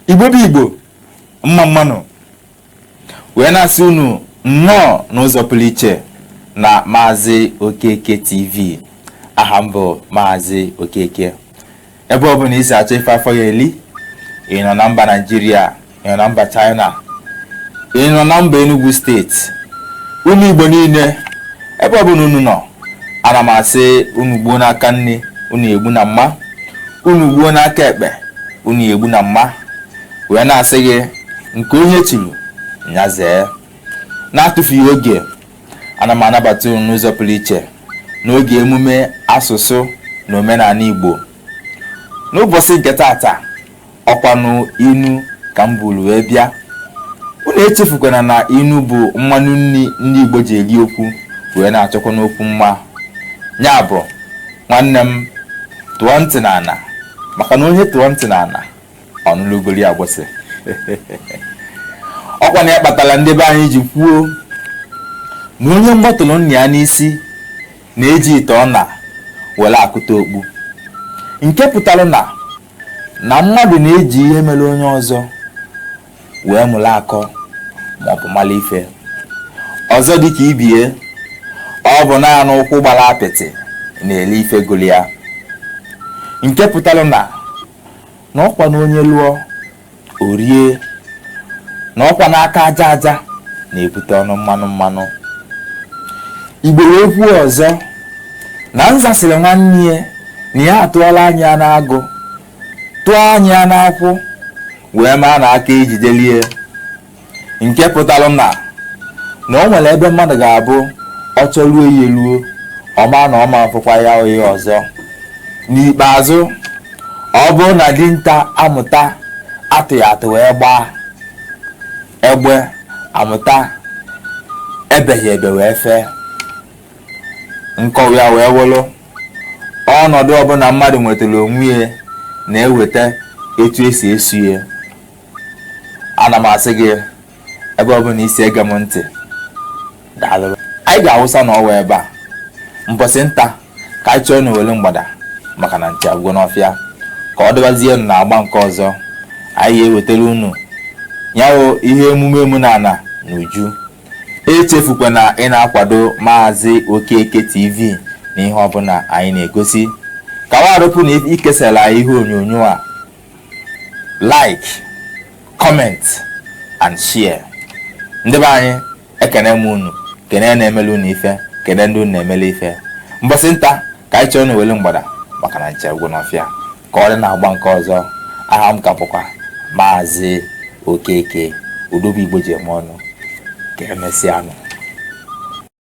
igbo bụ igbo mma mma nụ wee na-asị unu nnọọ n'ụzọ pụrụ iche na maazị okeke tv aha m bụ maazị okeke ebe ọ bụla i si achọ ife afọ ya eli ị nọ na mba naijiria ị nọ na mba china ị nọ na mba enugu steeti unu igbo niile ebe ọ bụla unu nọ ana m asị unu gbuo n'aka nni unu egbu na mma unu gbuo n'aka ekpe unu egbu na mma wee na-asị gị nke onye chiri ya zee na-atụfughị oge ana m anabata unu n'ụzọ pụrụ iche n'oge emume asụsụ na omenala Igbo n'ụbọchị nke taata ọkwanụ inu ka m buru wee bịa unu echefukwana na inu bụ mmanụ nri ndị Igbo ji eri okwu wee na-achọkwanụ okwu mma ya bụ nwanne m tụọ ntị n'ala maka na onye tụọ ntị n'ala ọ nụlụ ugoli agbụsị ọkwanụ ya kpatara ndị be anyị ji kwuo na onye mgbọ tụrụ nna ya n'isi na-eji ite ọna were akụta okpu nke pụtara na na mmadụ na-eji ihe mere onye ọzọ wee mụrụ akọ maọbụ mara ife ọzọ dịka ibie ọ bụ naanị ụkwụ gbara apịtị na-eli ife gụrụ ya nke pụtara na na ọkwa na onye lụọ o rie na ọkwanụ aka aja aja na-ebute ọnụ mmanụ mmanụ igbo wee kwuo ọzọ na nza sịrị nwanne ya na ya atụọla anya n'agụ tụọ anya n'akwụ wee maa na aka ejidelie nke pụtara na na o nwere ebe mmadụ ga-abụ ọ chọruo ya eruo ọ ma na ọ ma afụkwa ya oyi ọzọ n'ikpeazụ ọ bụrụ na dinta amụta atụghị atụ wee gbaa egbe amụta ebeghị ebe wee fee nkọwa ya wee wụrụ ọnọdụ ọbụla mmadụ nwetara onwe ya na-eweta etu e si eso ya ana m asị gị ebe ọ bụla i si ege m ntị daalụ anyị ga-awụsa na ọwa ebe a mbọsị nta ka anyị chụọ n'owere mgbada maka na nchi agwụgo n'ọfịa ka ọ dịbazienụ na agba nke ọzọ anyị ga-ewetara unu nya wụ ihe emume omenala na uju echefukwa na ị na-akwado maazị okeke tv na ihe ọbụla anyị na-egosi ka wa arụpụ na ikesara anyị ihe onyonyo a like comment and share ndị be anyị ekene m unu kene na-emele unu ife kene ndị unu na-emele ife mbọsị nta ka anyị chụọ n'owele mgbada maka na nchi agwụ n'ọfịa ka ọ dị n'agba nke ọzọ aha m ka bụkwa maazị okeke odobe igbo ji eme ọnụ ka emesịa nụ